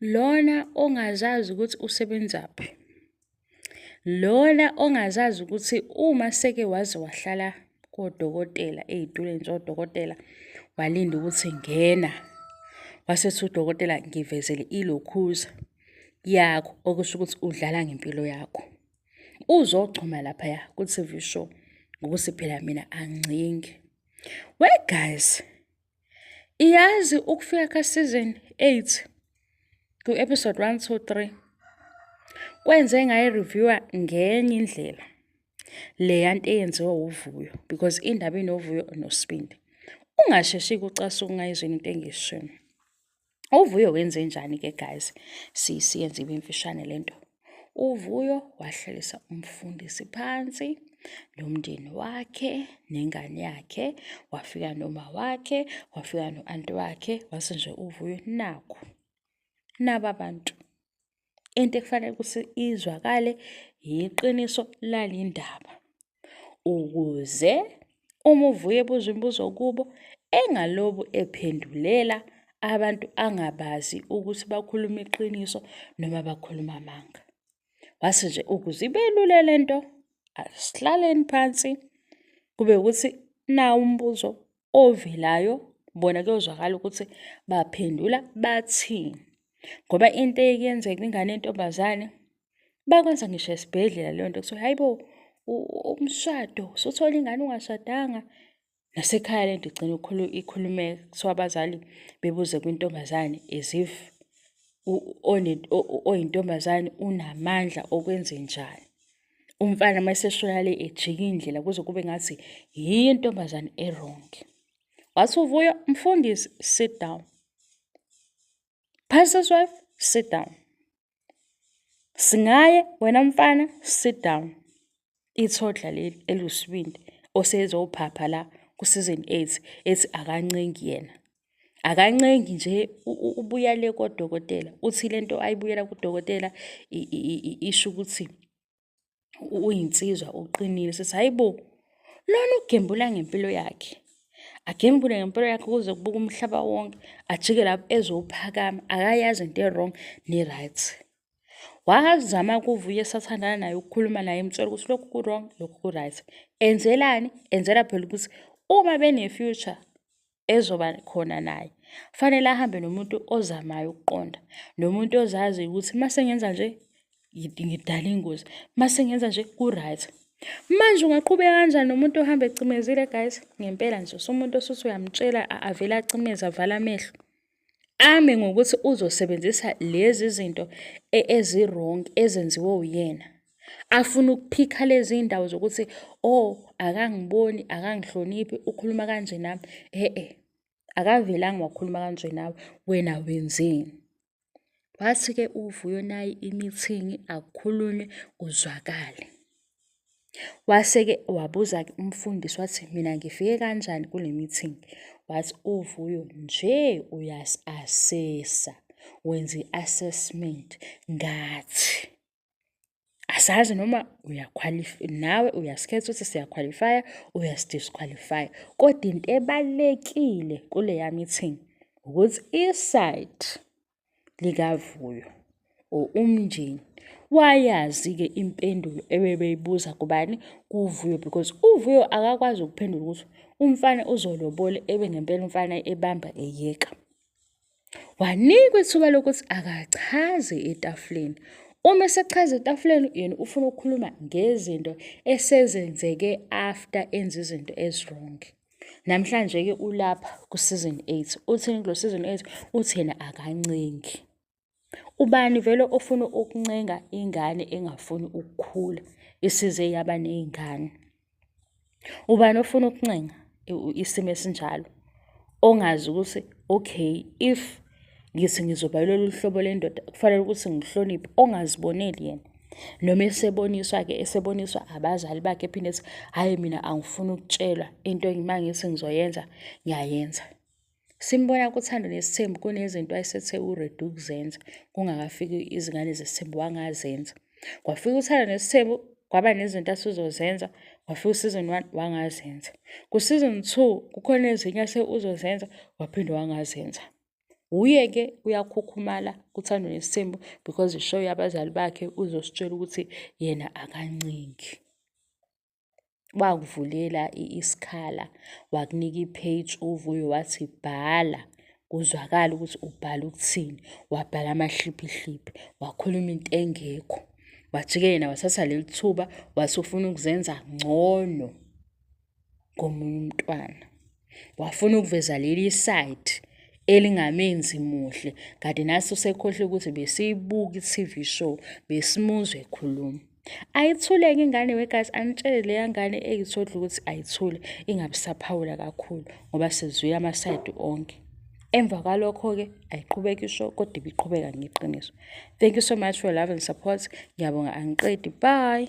lona ongazazi ukuthi usebenzaphi lona ongazazi ukuthi uma seke waze wahlala kodokotela ey'tulweni zodokotela walinda ukuthi ngena wasethi udokotela ngivezele ilokhuza yakho okusho ukuthi udlala ngempilo yakho uzogcuma laphaya ku-TV show ngokuthi phela mina angicingi we guys Iyazi ukufika ka season 8 ku episode 1 2 3 kwenze ngayi reviewer ngenye indlela le yanto eyenziwa uvuyo because indaba inovuyo nosibindi ungasheshi kucasuka ungayizwini into engishoyo uvuyo wenze njani ke guys siyenze ibe imfishane le nto uvuyo wahlalisa umfundisi phansi nomndeni wakhe nengane yakhe wafika noma wakhe wafika no-anti wakhe wase nje uvuyo naku naba bantu into ekufanele ukuthi izwakale yiqiniso lale ndaba ukuze uma uvuye ebuza imibuzo kubo engalobu ephendulela abantu angabazi ukuthi bakhuluma iqiniso noma bakhuluma amanga. Wase nje ukuze ibe lula le nto asihlaleni phansi kube ukuthi nawu umbuzo ovelayo bona kuyozwakala ukuthi baphendula bathini ngoba into eyenzeka ingane yentombazane bakwenza ngisho esibhedlela leyo nto kuthiwa hayi bo umshado suthola ingane ungashadanga nasekhaya le nto igcina ikhulume kuthiwa abazali bebuze kwintombazane as if oyintombazane unamandla okwenze njani umfana uma eseshoya le ejika indlela kuze kube ngathi yiyo intombazane erong wathi uvuyo mfundisi sit down pastor's wife sit down singaye wena mfana sit down ithodla leli elusibindi osezophapha la kusizini 8 ethi akancengi yena akancengi nje ubuya le kodokotela uthi le nto ayibuyela kudokotela isho ukuthi uyinsizwa uqinile sithi hayi bo lona ugembula ngempilo yakhe agembule ngempilo yakhe kuze kubuka umhlaba wonke ajike lapho ezophakama akayazi into e-wrong ne-right wazama kuvuye esathandana naye ukukhuluma naye emtshela ukuthi lokhu ku-wrong lokhu ku-right enzelani enzela phela ukuthi uma bene-future ezoba khona naye. Kufanele ahambe nomuntu ozamayo ukuqonda, nomuntu ozazi ukuthi uma sengenza nje ngidala ingozi, uma sengenza nje ku-right. Manje ungaqhubeka kanjani nomuntu ohamba ecimezile guys? Ngempela nje usumuntu osuthi uyamtshela avele acimeze avale amehlo. ame ngokuthi uzosebenzisa lezi zinto e, ezirongi ezenziwe uyena afuna ukuphikha lezi ndawo zokuthi oh akangiboni akangihloniphi ukhuluma kanje nami e-e akavelanga wakhuluma kanje nawe wena wenzeni wathi-ke uvuyo nayi imithingi akukhulunywe kuzwakale Wase-ke wabuza-ke umfundisi wathi, mina ngifike kanjani kule meeting? Wathi uVuyo nje uyasi-asesa, wenza i-assessment ngathi. Asazi noma nawe uyasikhetha ukuthi siyakhwalifaya, uyasi-disqualify-a. Kodwa into ebalulekile kuleya meeting ukuthi i-side likaVuyo or umndeni wayazi-ke impendulo ebebeyibuza kubani kuVuyo because uVuyo akakwazi ukuphendula ukuthi umfana uzolobole ebe ngempela umfana ebamba eyeka wanikwa ithuba lokuthi akachaze etafuleni uma esechaza etafuleni yena ufuna ukukhuluma ngezinto esezenzeke after enza izinto ezirongi Namhlanje-ke ulapha ku-season eight. Uthini kulo season eight? Uthi yena akancengi. Ubani vele ofuna ukuncenga ingane engafuni ukukhula isize yaba ney'ngane? Ubani ofuna ukuncenga isimo esinjalo? Ongazi ukuthi okay if ngithi ngizoba lolu hlobo lendoda kufanele ukuthi ngihloniphe, ongaziboneli yena. noma eseboniswa-ke eseboniswa abazali bakhe ephinde ethi hhayi mina angifuni ukutshelwa into uma ngithi ngizoyenza ngiyayenza simbona kuthando nesithembu kunezinto ayesethe uredu ukuzenza kungakafiki izingane zesithembu wangazenza kwafika uthando nesithembu kwaba nezinto asuzozenza wafika usizon one wangazenza kusizon two kukhona ezinye ase uzozenza waphinde wangazenza Wuye ke uyakhukhumala kuthandwa nesithembu because ishow yabazali bakhe uzositshela ukuthi yena akancingi. Wakuvulela isikhala wakunika i-page uvuyo wathi bhala kuzwakala ukuthi ubhala ukuthini wabhala amahliphihliphi wakhuluma into engekho wajike yena wathatha leli thuba wasufuna ukuzenza ngcono ngomunye umntwana wafuna ukuveza leli side elingamenzi muhle kanti naso sekhohle ukuthi besiyibuka i-TV show besimuzwe ekhuluma ayithuleke ingane wegazi anitshele leya ngane eyithodla ukuthi ayithule ingabisaphawula kakhulu ngoba sizwile amasayidi onke emva kwalokho-ke ayiqhubeka isho kodwa ibiqhubeka ngeqiniso thank you so much for love and support ngiyabonga angiqedi bye